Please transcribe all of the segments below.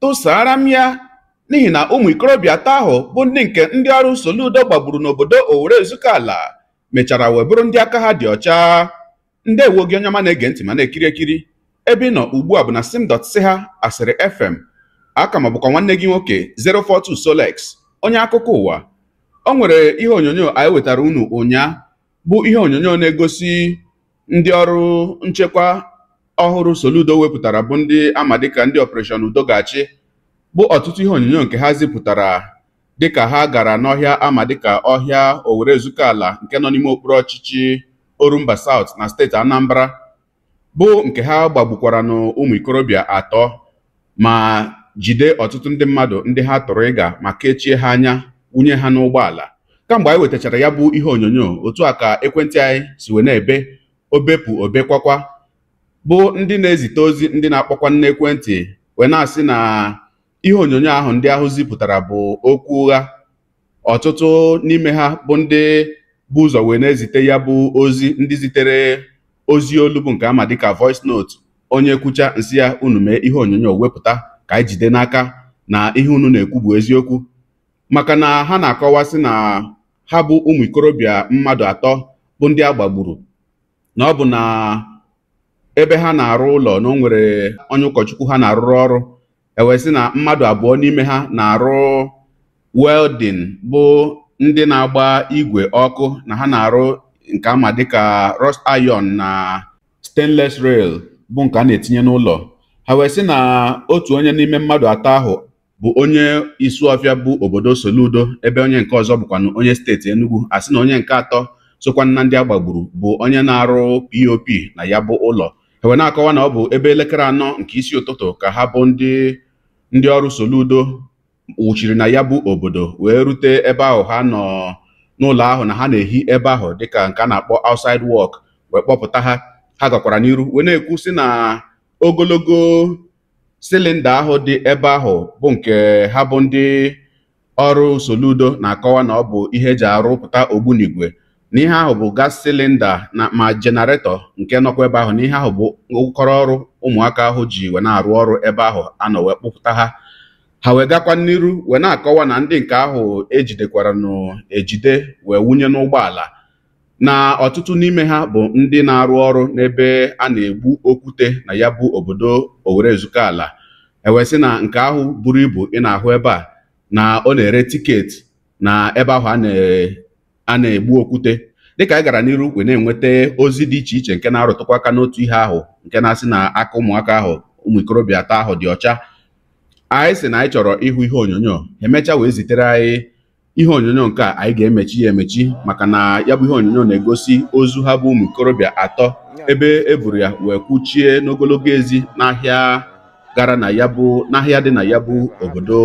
tụsara m ya n'ihi na ụmụ ikorobịa atọ ahụ bụ ndị nke ndị ọrụ Soludo gbagburu n'obodo Owere Ezukala mechara wee bụrụ ndị aka ha dị ọcha ndewo gị onye ọma na-ege ntị ma na-ekiri ekiri ebe ị nọ ugbu a bụ na simdot si ha asịrị fm aka m bụkwa nwanne gị nwoke 042 Solex onye akụkọ ụwa o nwere ihe onyonyo anyị wetara unu ụnyaa bụ ihe onyonyo na-egosi ndị ọrụ nchekwa ọhụrụ Soludo wepụtara bụ ndị ama dịka ndị Operation Udo ga-achị bụ ọtụtụ ihe onyonyo nke ha zipụtara dịka ha gara n'ọhịa ama dịka ọhịa Owere Ezukala nke nọ n'ime okpuru ọchịchị Orumba South na steeti Anambra bụ nke ha gbagbukwaranụ ụmụ ikorobịa atọ ma jide ọtụtụ ndị mmadụ ndị ha tụrụ ịga ma kechie ha anya wunye ha n'ụgbọala kamgbe anyị wetachara ya bụ ihe onyonyo otu a ka ekwentị anyị si wee na-ebe o bepụ o bekwakwa bụ ndị na-ezite ozi ndị na-akpọkwanụ n'ekwentị wee na-asị na ihe onyonyo ahụ ndị ahụ zipụtara bụ okwu ụgha ọtụtụ n'ime ha bụ ndị bu ụzọ wee na-ezite ya bụ ozi ndị zitere ozi olu bụ nke ama dịka voice note onye kwucha m sị ya unu mee ihe onyonyo wepụta ka anyị jide n'aka na ihe unu na-ekwu bụ eziokwu maka na ha na-akọwa sị na ha bụ ụmụ ikorobịa mmadụ atọ bụ ndị a gbagburu na ọ bụ na ebe ha na-arụ ụlọ na o nwere onye ụkọchukwu ha na-arụrụ ọrụ e wee sị na mmadụ abụọ n'ime ha na-arụ welding bụ ndị na-agba igwe ọkụ na ha na-arụ nke ama dịka rust iron na stainless rail bụ nke a na-etinye n'ụlọ ha wee sị na otu onye n'ime mmadụ atọ ahụ bụ onye Isuọfịa bụ obodo Soludo ebe onye nke ọzọ bụkwanụ onye steeti Enugu a sị na onye nke atọ sokwa na ndị a gbagburu bụ onye na-arụ POP na ya bụ ụlọ e wee na-akọwa na ọ bụ ebe elekere anọ nke isi ụtụtụ ka ha bụ ndị ndị ọrụ Soludo wụchiri na ya bụ obodo wee rute ebe ahụ ha nọ n'ụlọ ahụ na ha na-ehi ebe ahụ dịka nke a na-akpọ outside work wee kpọpụta ha ha gakwara n'iru wee na-ekwu sị na ogologo silinda ahụ dị ebe ahụ bụ nke ha bụ ndị ọrụ Soludo na-akọwa na ọ bụ ihe e ji arụpụta ogbunigwe na ihe ahụ bụ gas silinda na ma jenaretọ nke nọkwa ebe ahụ na ihe ahụ bụ ụkọrọ ọrụ ụmụaka ahụ ji wee na-arụ ọrụ ebe ahụ a nọ wee kpụpụta ha ha wee gakwa n'iru wee na-akọwa na ndị nke ahụ e jidekwaranụ ejide wee wunye n'ụgbọala na ọtụtụ n'ime ha bụ ndị na-arụ ọrụ n'ebe a na-egbu okwute na ya bụ obodo Owerre Ezukala e wee sị na nke ahụ buru ibu ị na-ahụ ebe a na ọ na-ere tiketi na ebe ahụ a na-egbu okwute dịka anyị gara n'iru wee na-enweta ozi dị iche iche nke na-arụtụkwa aka n'otu ihe ahụ nke na-asị na aka ụmụaka ahụ ụmụ ikorobịa atọ ahụ dị ọcha anyị sị na anyị chọrọ ịhụ ihe onyonyo emechaa wee zitere anyị ihe onyonyo nke a anyị ga-emechi ya emechi maka na ya bụ ihe onyonyo na-egosi ozu ha bụ ụmụ ikorobịa atọ ebe e buru ya wee kwuchie n'ogologo ezi n'ahịa gara na ya bụ n'ahịa dị na ya bụ obodo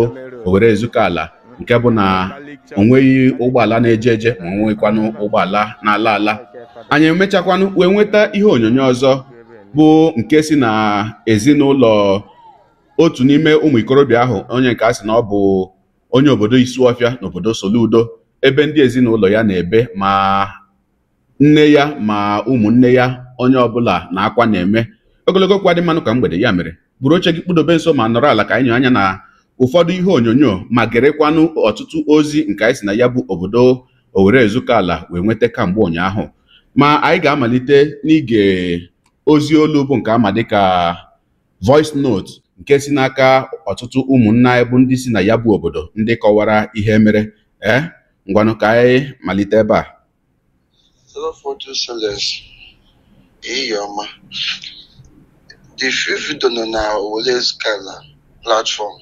Owerre Ezukala nke bụ na o nweghị ụgbọala na-eje eje ma o nweghịkwanụ ụgbọala na-ala ala anyị emechakwanụ wee nweta ihe onyonyo ọzọ bụ nke si na ezinụlọ otu n'ime ụmụ ikorobịa ahụ onye nke a sị na ọ bụ onye obodo Isuọfịa n'obodo Soludo ebe ndị ezinụlọ ya na-ebe ma nne ya ma ụmụnne ya onye ọbụla na-akwa na-eme ogologo okwu adị mma n'ụka mgbede ya mere buru oche gị kpudobe nso ma nọrọ ala ka anyị nyoo anya na ụfọdụ ihe onyonyo ma gerekwanụ ọtụtụ ozi nke anyị si na ya bụ obodo Owerre Ezukala wee nweta kamgbe ụnyaahụ ma anyị ga-amalite n'ige ozi olu bụ nke a ma dịka voice note nke si n'aka ọtụtụ ụmụnna anyị bụ ndị si na ya bụ obodo ndị kọwara ihe mere ee eh, ngwanụ ka anyị malite ebe a ọma the few video nọ na Owerre Ezukala platform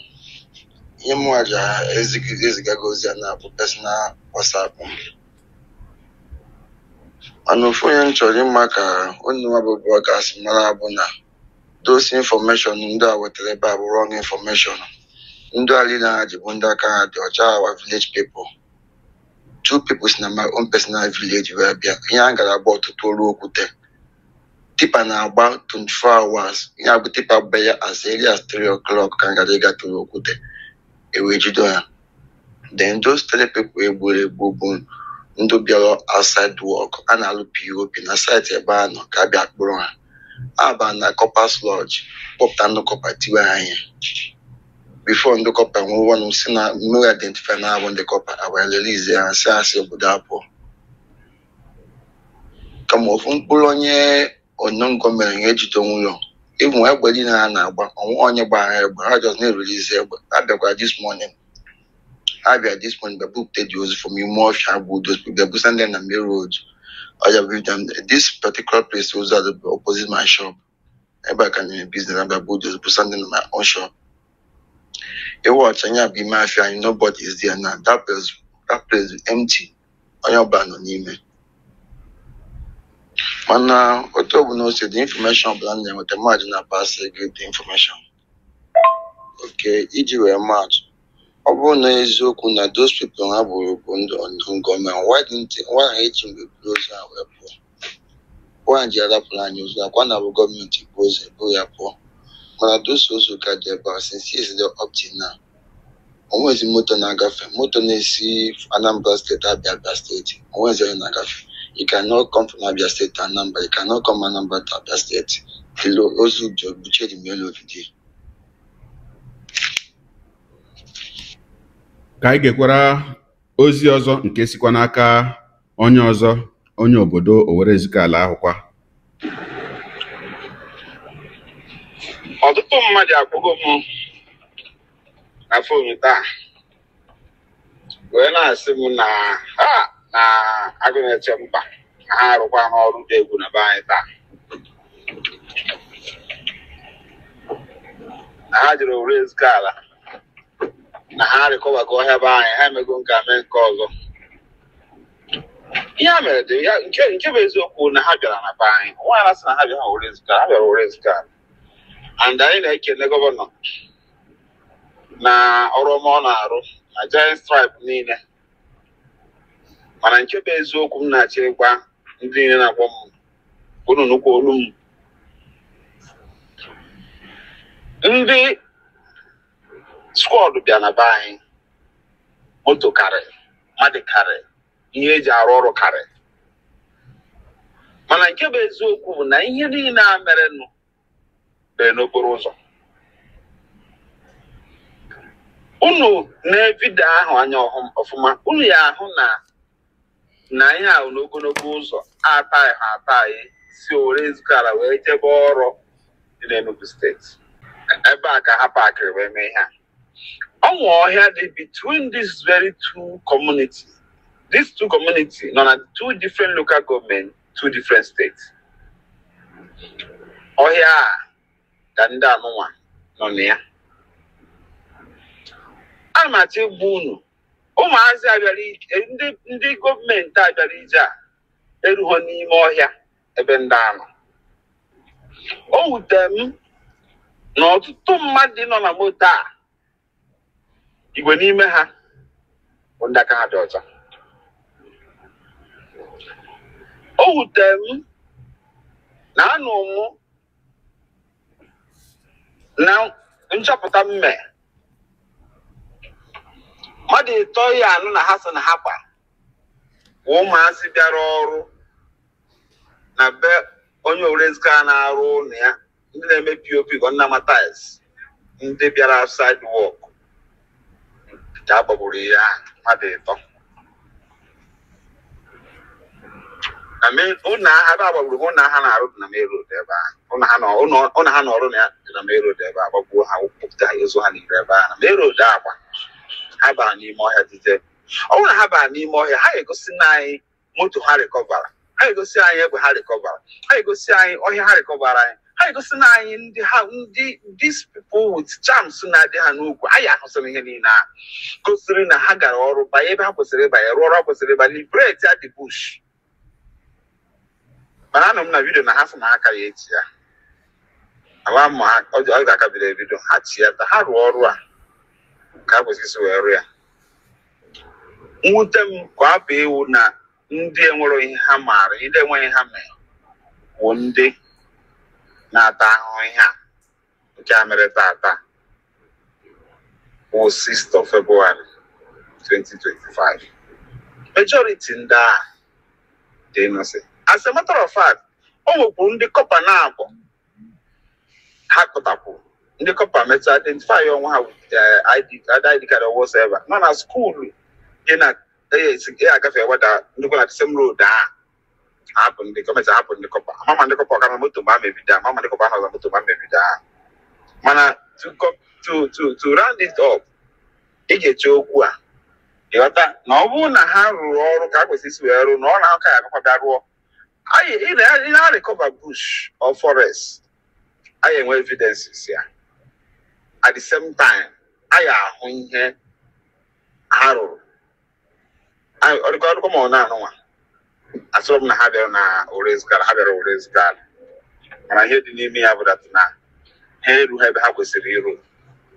ihe mụnwa ji eziga gị ozi ya na-abụ personal WhatsApp m mana ofu ihe m chọrọ ime ka onye nwa bụ broadcast mara bụ na those information ndị a wetara ebe a bụ wrong information ndị a niile ha ji bụ ndị aka ha dị ọcha our village people two people si na my own personal village wee bịa ihe a gara agba ụtụtụ ọlụ okwute tipa na-agba 24 hours ihe abụ tipa bịa as early as 3 o'clock ka ha gara ịga tụrụ okwute e wee jido ha then those three people e gburu egbu bụ ndị bịara outside work ha na-alụ POP na site ebe ha nọ ka a bịa kpụrụ ha a ba na corpers lodge kpọpụta ndị kọpa tiwe ha ihe before ndị kọpa nwee ọnụ si na mmiri identify na ha bụ ndị kọpa e wee release ha sị ha si obodo a pụọ kama ofu mkpụrụ onye onyongo mere ihe ejide onwe ya ịnụ egbe niile ha na-agba o nwe onye gba ha egbe ha just na-erelease egbe ha bịakwa this morning ha bịa this morning bịa bupụta dị ozu from ime ọfịa bụ udo bịa busa ndị na main road ọja bụ them this particular place ozu a dị bụ opposite my shop ebe a ka nyere business abịa bụ udo busa ndị na my own shop ịwa ọcha nya bụ ime afịa anyị nobody is there now that place that place empty onye ọbụla nọ n'ime mana otu ọbụla o si dị infọmeshọn ọbụla m na-enweta mmadụ na-apasị gị the infọmeshọn okay iji wee maa atụ ọ bụrụ na eziokwu na those people ha gburu bụ ndị unknown gunmen why didn't why ha eji mgbe buru ozu ha wee pụọ Why ha ji arapụrụ anyị ozu akwa na bụ gọọmenti bụ ozu ebu ya pụọ mana those ozu ka dị ebe a since yesterday up till now onwezi moto na-agafe moto na-esi Anambra steeti abịa Abia steeti onwezi onye na-agafe you cannot come from Abia steeti to Anambra you cannot come Anambra to Abia steeti kilo ozu dị obuche dị melu odidi ka anyị gekwara ozi ọzọ nke sikwa n'aka onye ọzọ onye obodo Owerre Ezukala ahụ kwa ọtụtụ mmadụ akpọgo m na fon taa wee na-asị m na ha na Agụnechemba na ha arụkwana ọrụ dị egwu na be anyị taa na ha jere Owerre Ezukala na ha rịkọbago ọhịa be anyị ha emego nke a mee nke ọzọ ihe a mere dị ya nke nke bụ eziokwu na ha bịara na be anyị nwaanyị na-asị na ha bịara Owerre Ezukala ha bịara Owerre Ezukala. and anyị na-ekele gọvanọ na ọrụ ọma ọ na-arụ na giant strides niile mana nke bụ eziokwu m na-achọ ịgwa ndị niile na-akpọ m unu nụkwa olu m ndị skwọd bịa na be anyị moto karị mmadụ karị ihe eji arụ ọrụ karị mana nke bụ eziokwu bụ na ihe niile a merenụ bụ n'okporo ụzọ unu nee vidio ahụ anya ọfụma unu ya-ahụ na na ihe ahụ n'ogologo ụzọ ataghị ha ataghị si Owerre Ezukala wee jebe Awlaw dị n'Enugu steeti ebe a ka ha pakịrị wee mee ihe a o nwe ọhịa dị between these very two communities these two communities nọ na two different local government two different states ọhịa a ka ndị anụnwa nọ na ya ana m achọ ịgwa unu ụmụazị a bịara ije ndị ndị gọọmenti a bịara ije a erughọ n'ime ọhịa ebe ndị a nọ o wute m na ọtụtụ mmadụ nọ na moto a igwe n'ime ha bụ ndị aka ha dị ọcha o wute m na anụ mụ na nchọpụta m me mmadụ ịtọ ya anụ na ha so na ha gba kwa ụmụazị bịara ọrụ na be onye Owerrezukala na-arụ ụlọ ya ndị na-eme POP ka ndị na-ama tiles ndị bịara site work ka a gbagburu ha mmadụ ịtọ na main- ụlọ ha ebe a gbagburu bụ ụlọ ha na-arụ dị na main road ebe a ụlọ ha nọ- ụlọ ụlọ ha nọrụ na ya dị na main road ebe a gbagbuo ha kpụpụta ha ozu ha n'iro ebe a na main road agba ha bara n'ime ọhịa dide ọ bụrụ na ha baa n'ime ọhịa ha ga-egosi na anyị moto ha recoverra ha ga-egosi anyị egbe ha recoverra ha ga-egosi anyị ọhịa ha recoverra anyị ha ga-egosi na anyị ndị ha ndị these people with charms na-adị ha n'ukwu anyị ahụsịrị ihe niile a gosiri na ha gara ọrụ banye ebe ha kwesịrị ịbanye rụọ ọrụ ha kwesịrị ịbanye liberate that bush mana anụ m na vidio na ha sị na ha akaghị eti ya ala ma ha ọ ọ ga-akabiri ebido ha ti ya ta ha rụọ ọrụ a ka a kwesịrị isi wee rụọ ya mwute m ka ọ bụ iwu na ndị enwerọ ihe ha maara ndị enweghị ihe ha mere bụ ndị na-ata ahụhụ ihe a nke a mere tata bụ 6th of February 2025 majority ndị a dị innocent as a matter of fact o nwekwu ndị kọpa na-abụ ha kpụtakwuru ndị kọpa metụ identify onwe ha with ID card or whatever nọ na skuulu dị na ya agafe weda nnukwu na the same road a hapụ ndị gọọmenti hapụ ndị kọpa ama m ma ndị kọpa ọkara moto mgbe a mebida ama m ma ndị kọpa a nọ na moto mgbe a mebida ha mana to co- to to to round it up ị ga-eche okwu a ịghọta na ọ bụrụ na ha rụrụ ọrụ ka a kwesịrị isi wee rụọ na ọ na-ahụ ka ya akakwa bịa rụọ anyị ị na- ị na-recover bush or forest anyị enwe evidences ya at the same time anyị ahụ ihe ha rụrụ Anyị- ọ dịkwa ọdụkọ ma ọ na-anụ nwa asịrọ m na ha abịarọ na Owerrezukala ha bịara Owerrezukala mana ihe dị n'ime ya bụ that na ha eru ha ebe ha kwesịrị iru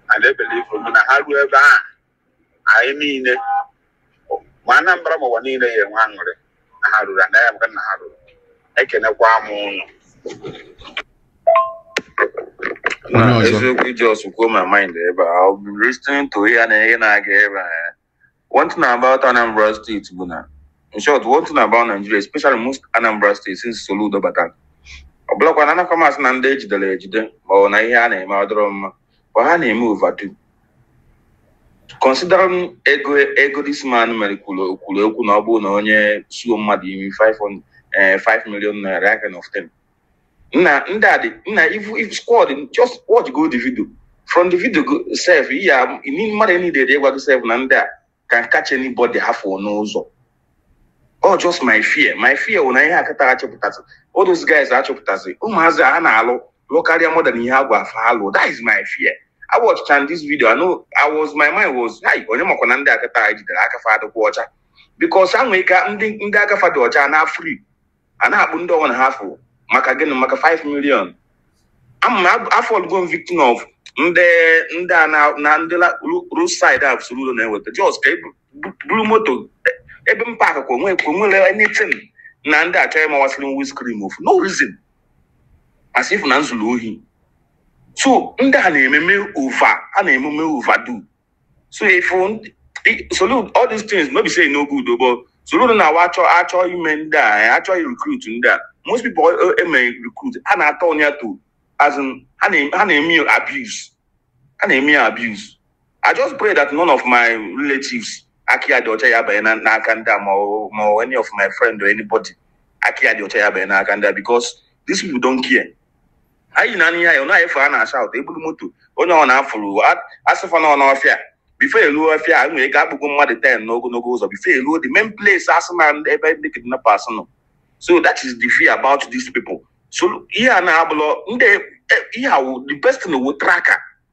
and I believe na ha ruo ebe a anyị niile ma anambra ma ụwa niile ya enwe aṅụrị na ha ruru anaghị amaka na ha ruru ekenekwa m ụnụ Onye na ọzọ? eziokwu ị just kwuo my mind ebe a I've been listening to ihe na ihe na-aga ebe a one thing about Anambra State bụ na in short one thing about Nigeria especially most Anambra State since Soludo batara ọ bụrọkwa na anakwa m asị na ndị ejidere ejide ma ọ bụ na ihe a na-eme ọ dịrọ mma but ha na-eme overdo considering ego ego this man mere kwuru kwuru okwu na ọ bụrụ na onye sụọ mmadụ imi 5 eh, 5 million naira aka na of 10 na ndị a dị na ifu if squad just watch go the video from the video sef ya ni mmadụ niile dị ịgwa gị sef na ndị a can catch anybody ha fụ n'ụzọ ọ just my fear my fear wụ na ihe akata achọpụtasị all those guys achọpụtasị ụmụazị a na-alụ lụ karịa mmadụ na ihe a gwara fa lụ that is my fear I watched and this video I know I was my mind was hi onye makwa na ndị akata a jidere aka fa adịkwa ọcha because ha nwee ka ndị ndị aka fa dị ọcha na free a na-akpụ ndị ọwụna ha fụ maka gịnị maka 5 million ama m afọọlụgo m victim of ndị ndị a na na ndị road side a Soludo na-eweta just ka ebu- bu- buru moto e- ebe m paakị ka o nwe ka o nwere anything na ndị a chọrọ ịwasịrị m windscreen for no reason as if na m zulu ohi so ndị a na-ememe over a na-ememe overdo so if Soludo all these things no be say no good o but Soludo na awa achọ achọ ime ndị a achọ recruit ndị a most people eme eh, eh, recruit ha na-atọn ya to as in ha na-eme abuse ha na-eme abuse i just pray that none of my relatives aka ya dị ọcha ya banye n'aka ndị a ma any of my friend or anybody aka ya dị ọcha ya banye n'aka ndị a because these people don't care anyị na-anya ya na-efe a na-ashaụtụ e buru moto onye ọwụna a fụrụ a sị fa nọ n'ọfịa before e ruo ọfịa e nwere ike akpụgo mmadụ ten n'ogologo ụzọ before e ruo the main place a sị na ebe ndị kidnappers nọ so that is the fear about these people so ihe a na-abụlọ ndị e, ihe a wụ the best thing wụ tracker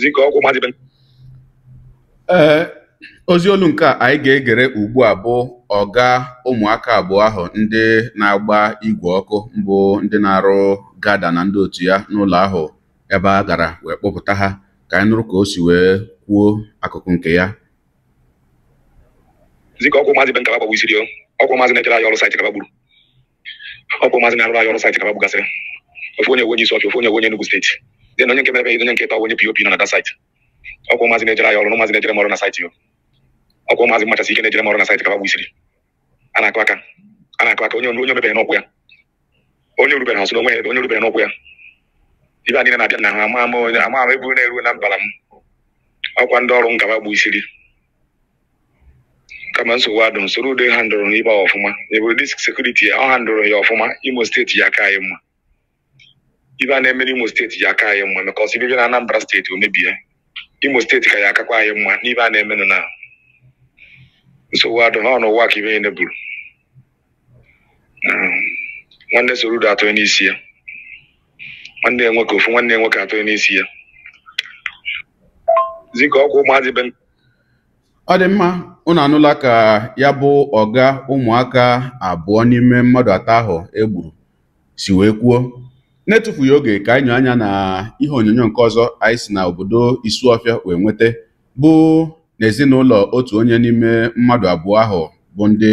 zikọ ọgwụ mmadụ ibe m. ee ozi olu nke a anyị ga-egere ugbu a bụ ọga ụmụaka abụọ ahụ ndị na-agba igwe ọkụ bụ ndị na-arụ gada na ndị otu ya n'ụlọ ahụ ebe a gara wee kpọpụta ha ka anyị nụrụ ka o si wee kwuo akụkụ nke ya biko ọkwa ụmụazị be m ka ha gbagbusiri o ọkwa ụmụazị na-ejere anyị ọrụ saịtị ka ha gburu ọkwa ụmụazị na-arụrụ anyị ọrụ saịtị ka ba gbugasịrị ofu onye onye Isuọfịa ofu onye onye Enugu steeti dị na onye nke mere onye nke ịtọ onye POP nọ na that saịtị ọkwa ụmụazị na-ejere anyị ọrụ na ụmụazị na-ejere m ọrụ na saịtị yo ọkwa ụmụazị mmachasị ike na-ejere m ọrụ na saịtị ka ba gbusiri a na-akụ aka a na-akụ aka onye onye o mebere n'ọkwụ ya onye o rubere ha so n'onwe ya onye o rubere n'ọkwụ ya ibe a niile na-abịa na ha ama ama onye ama ama ebu na-eru na mbara m ọkwa ndị ọrụ m ka ba gbusiri kama nsogbu adụ m Soludo ehandụrọ ibe a ọfụma ebe this sekuriti ya ọ handụrọ ya ọfụma imo steeti ya aka anyị mma ibe a na-eme n'imo steeti ya aka anyị mma maka ọsọ ibe bịa na anambra steeti o mebie imo steeti ka ya akakwa anyị mma n'ibe a na-emenụ na nsogbu adụ ha ọ n'ụwa ka ibe ya neburu nwanne soro udo atọ n'isi ya nwanne ya nwoke ofu nwanne ya nwoke atọ n'isi ya zika ọkwa ụmụazị be ọ dị mma unu anụla ka ya bụ ọga ụmụaka abụọ n'ime mmadụ atọ ahụ e gburu si wee kwuo n'etufughị oge ka anyị nyoo anya na ihe onyonyo nke ọzọ anyị si na obodo Isuọfịa wee nweta bụ n'ezinụlọ otu onye n'ime mmadụ abụọ ahụ bụ ndị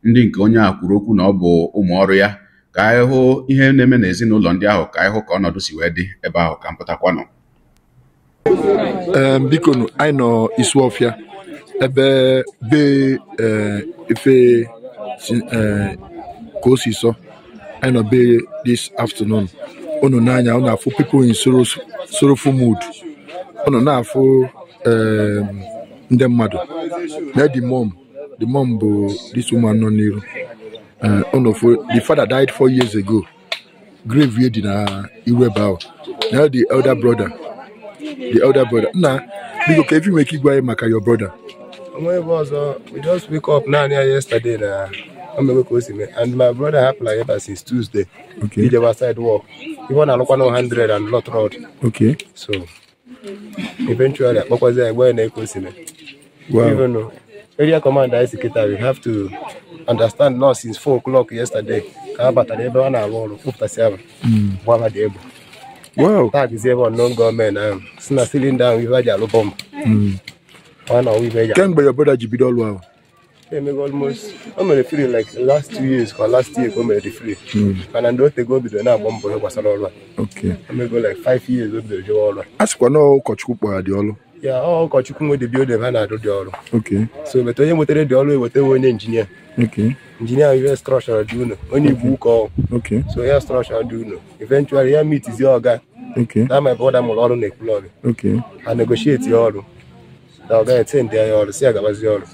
ndị nke onye a kwuru okwu na ọ bụ ụmụ ọrụ ya ka anyị hụ ihe na-eme n'ezinụlọ ndị ahụ ka anyị hụ ka ọnọdụ si wee dị ebe ahụ ka m pụtakwanụ Ee, bikonụ anyị nọ Isuọfịa ebe be ee, ife si ee, ka o si sọ anyị nọ be this afternoon unu nee anya unu afụ people in sorrow- sorrowful mood unu na-afụ em, ndị mmadụ na the mom the mom bụ this woman nọ n'iru Eh, unu fụ the father died four years ago grave ye dị na iru ebe ahụ na the elder brother the elder brother nna biko kee ife i nwere ike ịgwa anyị maka your brother o nwe ebe ọzọ we just wake up na-anụ ya yesterday na o mewe ka o si mee and my brother hapụlụ ebe a since Tuesday okay ijewa site work ife ọ na-alụkwa na 100 and lot road okay so eventually a kpọkwazi ya gwa anyị ka o si mee Wow. Even though area command anyị si kịta we have to understand now since 4 o'clock yesterday ka ha batara ebe a na-arụ ọrụ kpụpụtasị ahụ gbaa ha the egbe Wow. taa gụzi ebe unknown government ahụ si na cylinder ahụ ife e ji alụ bomb ọ na ọwa ife e ji alụ. Kemgbe your brother ji bido ọrụ ahụ. emego almost o mere free like last two years ka last year ka o mere the free mana ndị o tego o bidoro na-agba mbọ ihe gbasara ọrụ a Okay. emego like five years o bidoro jewe ọrụ a a sịkwa na ọ ụkọchukwu kpọrọ ya the ọrụ yeah ọ ụkọchukwu nwe the building ha na-arụ the ọrụ Okay. so but onye nwetere the ọrụ ewetewe onye injinia Okay. injinia ihe structure the ụlọ onye Igboukwu ọ Okay. so ya structure the ụlọ eventually ya mitizie ọga Okay. na my brother mụrụ ọrụ na Ekwulọbịa Okay. ha negotiate ya ọrụ na ọ gaghị ete ndị anya ọrụ si ya gabazi ọrụ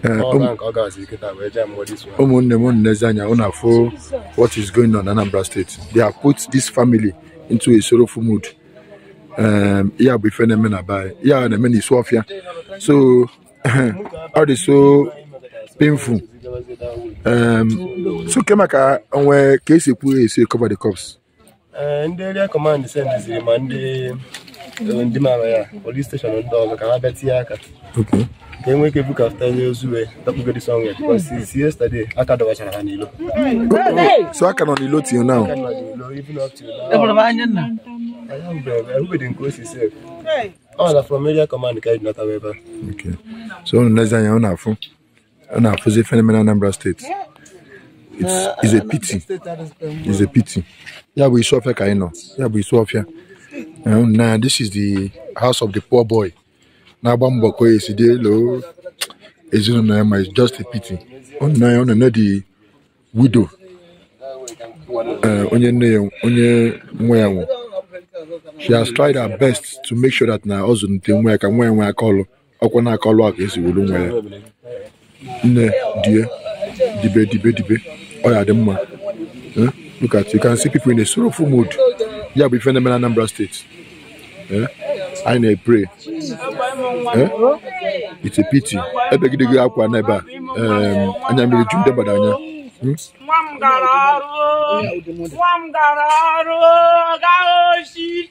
Ee, ọrụ ụmụ- ahụ ka ọ gabazi kịta wee jee mụọ this one ụmụnne m unu nezie anya unu afụ what is going on na Anambra State they have put this family into a sorrowful mood um, ya bụ ife na-eme na be anyị ya na-eme na Isuọfịa so ọ dị so painful um, so kee maka o nwe ka e si ekwu e si cover the corpse Eh, ndị area command sendiziri ma ndị eh, ndị mara ya police station ndị ọzọ ka ha bịa tinye aka ka e nwee ike bukọpụta onye ozu wee dapụgodi sọnwe since yesterday a ka dọbachara ha n'ilo so ha ka nọ n'ilo till now ahụbeghị nke o si sef ọ na from area command ka anyị natawa ebe a so unu nezie anya unu afụ a na-afụzi ife na-eme na Anambra steeti It's- it's a pity it's a pity. Ya bụ Isuọfịa ka anyị nọ. Ya bụ Isuọfịa. Um, na this is the house of the poor boy. Na-agba mbọ ka o esi dịlị ezinụlọ ya mma it's just a pity. Ọ nne ya ọ nne ya the widow. eh, onye nne ya onye nwa ya nwụ. She has tried her best to make sure that na ọ zụlite nwa ya ka nwa ya nwee aka ọlụ. ọ kwa n'aka ọlụ a ka e si welu nwa ya nne die dibe dibe dibe ọ ya-adị mma Eh, look at you can see people in a sorrowful mood ya bụ ife na-eme na Anambra steeti Eh, anyị na-epray Eh, it's a pity ebegideghi akwa na ebe a em, anya mmiri ju ndị mmadụ anya Hmm? nwa m gara ọrụ nwa m gara ọrụ gaghị oshi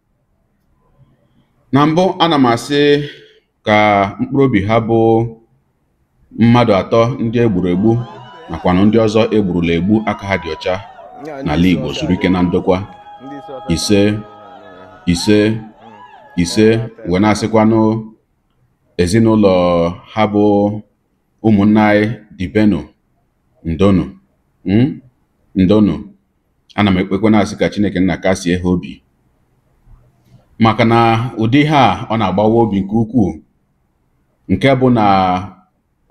na mbụ ana m asị ka mkpụrụ obi ha bụ mmadụ atọ ndị e gburu egbu nakwanụ ndị ọzọ e gburula egbu aka ha dị ọcha n'ala Igbo zuru ike na ndokwa ise ise ise wee na-asịkwanụ ezinụlọ ha bụ ụmụnne anyị dibenụ ndonụ hmm? ndonụ ana m ekpekwe na-asị ka Chineke nna kasie ha obi maka na ụdị ihe a ọ na-agbawa obi nke ukwuu nke bụ na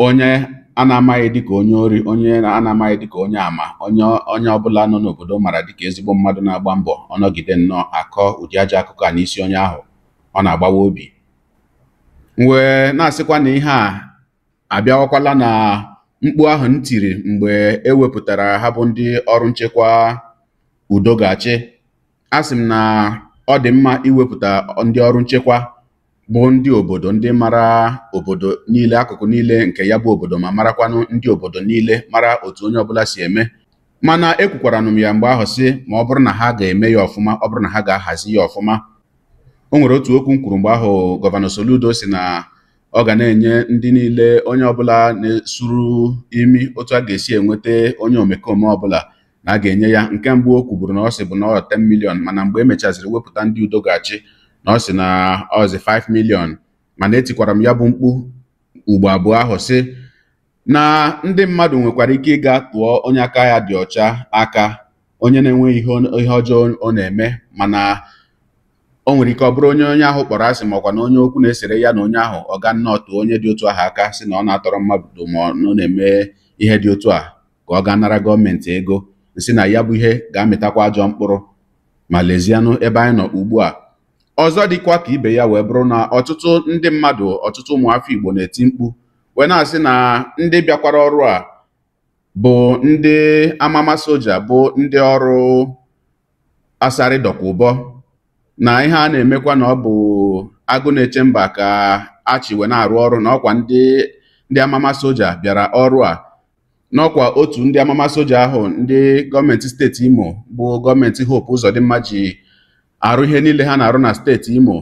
onye a na-amaghị dịka onye ori onye a na-amaghị dịka onye ama onye onye ọbụla nọ n'obodo mara dịka ezigbo mmadụ na-agba mbọ ọ nọgide nnọọ a kọọ ụdị ajọ akụkọ a n'isi onye ahụ ọ na-agbawa obi m wee na-asịkwa na ihe a abịawakwala na mkpu ahụ m tiri mgbe e wepụtara ha bụ ndị ọrụ nchekwa udo ga-achị asị m na ọ dị mma iwepụta ndị ọrụ nchekwa bụ ndị obodo ndị mara obodo niile akụkụ niile nke ya bụ obodo ma marakwanụ ndị obodo niile mara otu onye ọbụla si eme mana ekwukwaranụ m ya mgbe ahụ sị ma ọ bụrụ na ha ga-eme ya ọfụma ọ bụrụ na ha ga-ahazi ya ọfụma o nwere otu okwu m kwuru mgbe ahụ gọvanọ Soludo sị na ọ ga na-enye ndị niile onye ọbụla na-esuru imi otu a ga-esi enweta onye omekome ọbụla na a ga-enye ya nke mbụ o kwuburu na ọ sịbu na ọ 10 million mana mgbe e mechaziri wepụta ndị udo ga-achị na ọ sị na ọzi 5 million mana etikwara m ya bụ mkpu ugbo abụọ ahụ sị na ndị mmadụ nwekwara ike ịga tụọ onye aka ya dị ọcha aka onye na-enweghị ihe ọjọọ ọ na-eme mana o nwere ike ọ bụrụ onye onye ahụ kpọrọ asị makwa na onye okwu na-esere ya na onye ahụ ọ gaa nnọọ tụọ onye dị otu ahụ aka sị na ọ na-atọrọ mmadụ ma ọ na-eme ihe dị otu a ka ọ gaa nara gọọmenti ego m sị na ya bụ ihe ga-amịtakwa ajọ mkpụrụ ma lezianụ ebe anyị nọ ugbu a ọzọ dịkwa ka ibe ya wee bụrụ na ọtụtụ ndị mmadụ ọtụtụ ụmụafọ Igbo na-eti mkpu wee na-asị na ndị bịakwara ọrụ a bụ ndị amama soja bụ ndị ọrụ Asari Dokubo na ihe a na-emekwa na ọ bụ agụ na-eche mba ka a chị wee na-arụ ọrụ na ọkwa ndị ndị amama soja bịara ọrụ a na ọkwa otu ndị amama soja ahụ ndị gọọmenti steeti imo bụ gọọmenti hope ụzọdịmma ji arụ ihe niile ha na-arụ na steeti imo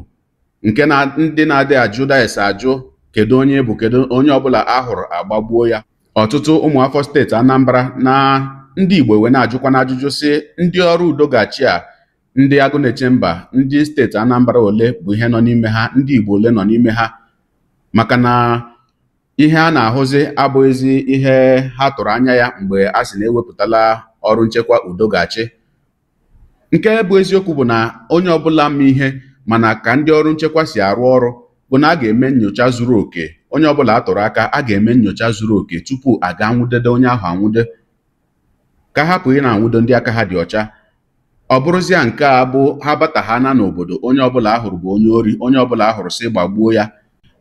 nke na ndị na-adị ajụ dayes ajụ kedu onye bụ kedu onye ọbụla a hụrụ a gbagbuo ya ọtụtụ ụmụafọ steeti Anambra na ndị Igbo wee na-ajụkwanụ ajụjụ sị ndị ọrụ udo ga-achị a ndị agụ na-eche mba ndị steeti Anambra ole bụ ihe nọ n'ime ha ndị Igbo ole nọ n'ime ha maka na ihe a na-ahụzi abụghịzi ihe ha tụrụ anya ya mgbe a sị na e wepụtala ọrụ nchekwa udo ga-achị nke bụ eziokwu bụ na onye ọbụla ma ihe ma na ka ndị ọrụ nchekwa si arụ ọrụ bụ na a ga-eme nyocha zuru oke onye ọbụla a tụrụ aka a ga-eme nyocha zuru oke tupu a ga-anwụdede onye ahụ anwụde ka a hapụ ị na-anwụdo ndị aka ha dị ọcha ọ bụrụzia nke a bụ ha bata ha na n'obodo onye ọbụla a hụrụ bụ onye ori onye ọbụla a hụrụ sị gbagbuo ya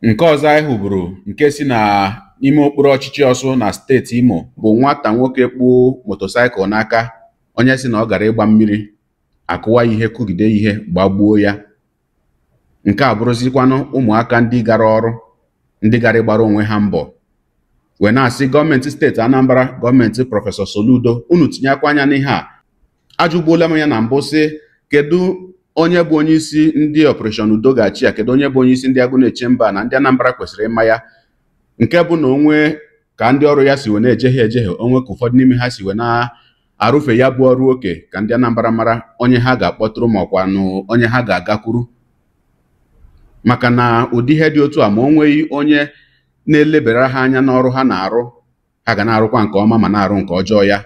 nke ọzọ anyị hụburu nke si na ime okpuru ọchịchị ọsụ na steeti imo bụ nwata nwoke kpụ motosaịkụl n'aka onye sị na ọ gara ịgba mmiri a kụwa ihe kụgide ihe gbagbuo ya nke a bụrụzikwanụ ụmụaka ndị gara ọrụ ndị gara ịgbara onwe ha mbọ wee na-asị gọọmenti steeti Anambra gọọmenti prọfesọ Soludo unu tinyekwa anya n'ihe a ajụgbuola m ya na mbụ sị kedu onye bụ onye isi ndị Operation udo ga-achị a kedu onye bụ onye isi ndị agụ na-eche mba na ndị Anambra kwesịrị ịma ya nke bụ na o nwee ka ndị ọrụ ya si wee na-ejehie ejehie o nwee ka ụfọdụ n'ime ha si wee na-arụfe ya bụ ọrụ oke ka ndị Anambra mara onye ha ga-akpọtụrụ makwanụ onye ha ga-agakwuru maka na ụdị ihe dị otu a ma o nweghị onye na-elebara ha anya n'ọrụ ha na-arụ ha ga na-arụkwa nke ọma ma na-arụ nke ọjọọ ya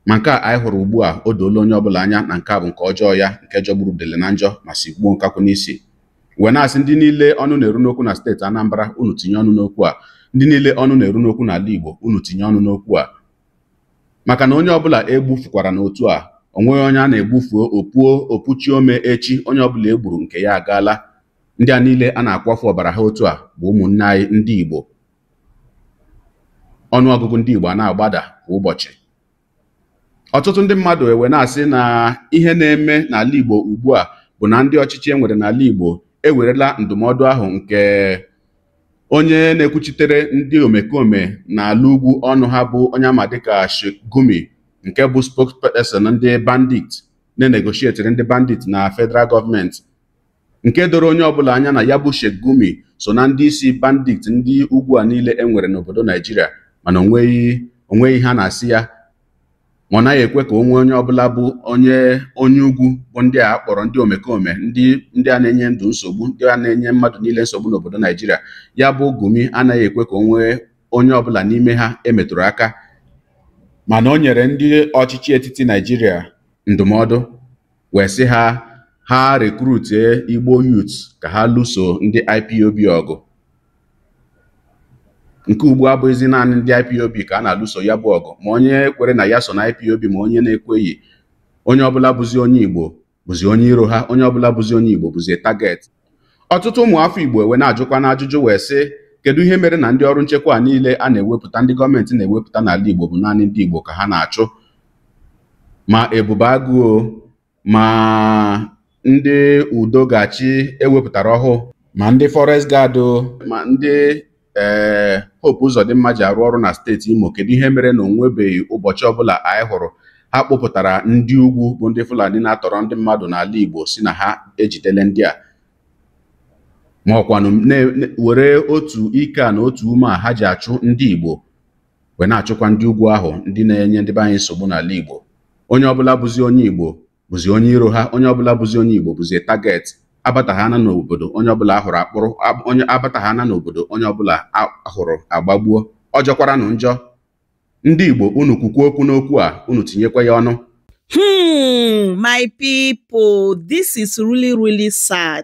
ma nke a anyị hụrụ ugbu a o doola onye ọbụla anya na nke a bụ nke ọjọọ ya nke jọgburu udele na njọ ma sigbuo nkakwụ n'isi wee na-asị ndị niile ọnụ na-eru n'okwu na steeti Anambra unu tinye ọnụ n'okwu a ndị niile ọnụ na-eru n'okwu n'ala Igbo unu tinye ọnụ n'okwu a maka na onye ọbụla e gbufukwaranụ otu a o nweghị onye a na-egbufu o puo o puchi ome echi onye ọbụla e gburu nke ya agaala ndị a niile a na-akwafu ọbara ha otu a bụ ụmụnne anyị ndị Igbo ọnụọgụgụ ndị Igbo a na-agbada kwa ụbọchị ọtụtụ ndị mmadụ ewee na-asị na ihe na-eme n'ala Igbo ugbu a bụ na ndị ọchịchị e nwere n'ala Igbo ewerela ndụmọdụ ahụ nke onye na-ekwuchitere ndị omekome n'ala ugwu ọnụ ha bụ onye a ma dịka Sheikh Gumi nke bụ spokesperson ndị bandit na-enegotiateri ndị bandit na federal gọọmenti nke doro onye ọbụla anya na ya bụ Sheikh Gumi so na ndị isi bandit ndị ugwu a niile e nwere n'obodo Naijiria mana onweghị onweghị ihe a na-asị ya ma ọ naghị ekwe ka o nwee onye ọbụla bụ onye onye ugwu bụ ndị a kpọrọ ndị omekome ndị a na-enye ndụ nsogbu ndị a na-enye mmadụ niile nsogbu n'obodo Naijiria ya bụ Gumi anaghị ekwe ka o nwee onye ọbụla n'ime ha e metụrụ aka mana o nyere ndị ọchịchị etiti Naijiria ndụmọdụ wee sị ha ha recruitie Igbo youth ka ha lụso ndị IPOB ọgụ nke ugbu a bụghịzi naanị ndị IPOB ka a na-alụso ya bụ ọgụ ma onye kwere na ya so na IPOB ma onye na-ekweghị onye ọbụla bụzi onye Igbo bụzi onye iro ha onye ọbụla bụzi onye Igbo bụzi target ọtụtụ ụmụafọ Igbo ewee na-ajụkwanụ ajụjụ wee sị kedu ihe mere na ndị ọrụ nchekwa a niile a na-ewepụta ndị gọọmenti na-ewepụta n'ala Igbo bụ naanị ndị Igbo ka ha na-achụ ma Ebube Agụ o ma ndị Udo Ga-achị e wepụtara ọhụụ ma ndị forest guard ma ndị ee Hope Uzodimma ji arụ ọrụ na steeti Imo kedu ihe mere na onwebeghị ụbọchị ọbụla anyị hụrụ ha kpụpụtara ndị ugwu bụ ndị Fulani na-atọrọ ndị mmadụ n'ala Igbo sị na ha ejidele ndị a ma ọkwanụ were otu ike a na otu ume a ha ji achụ ndị Igbo wee na-achụkwa ndị ugwu ahụ ndị na-enye ndị be anyị nsogbu n'ala Igbo onye ọbụla bụzi onye Igbo bụzi onye iro ha onye ọbụla bụzi onye Igbo bụzi target abataghana n'obodo onye ọbụla a hụrụ a kpụrụ onye abataghana n'obodo onye ọbụla a hụrụ a gbagbuo ọ jọkwaranụ njọ ndị Igbo unu kwukwuo okwu n'okwu a unu tinyekwa ya ọnụ hmm my people this is really really sad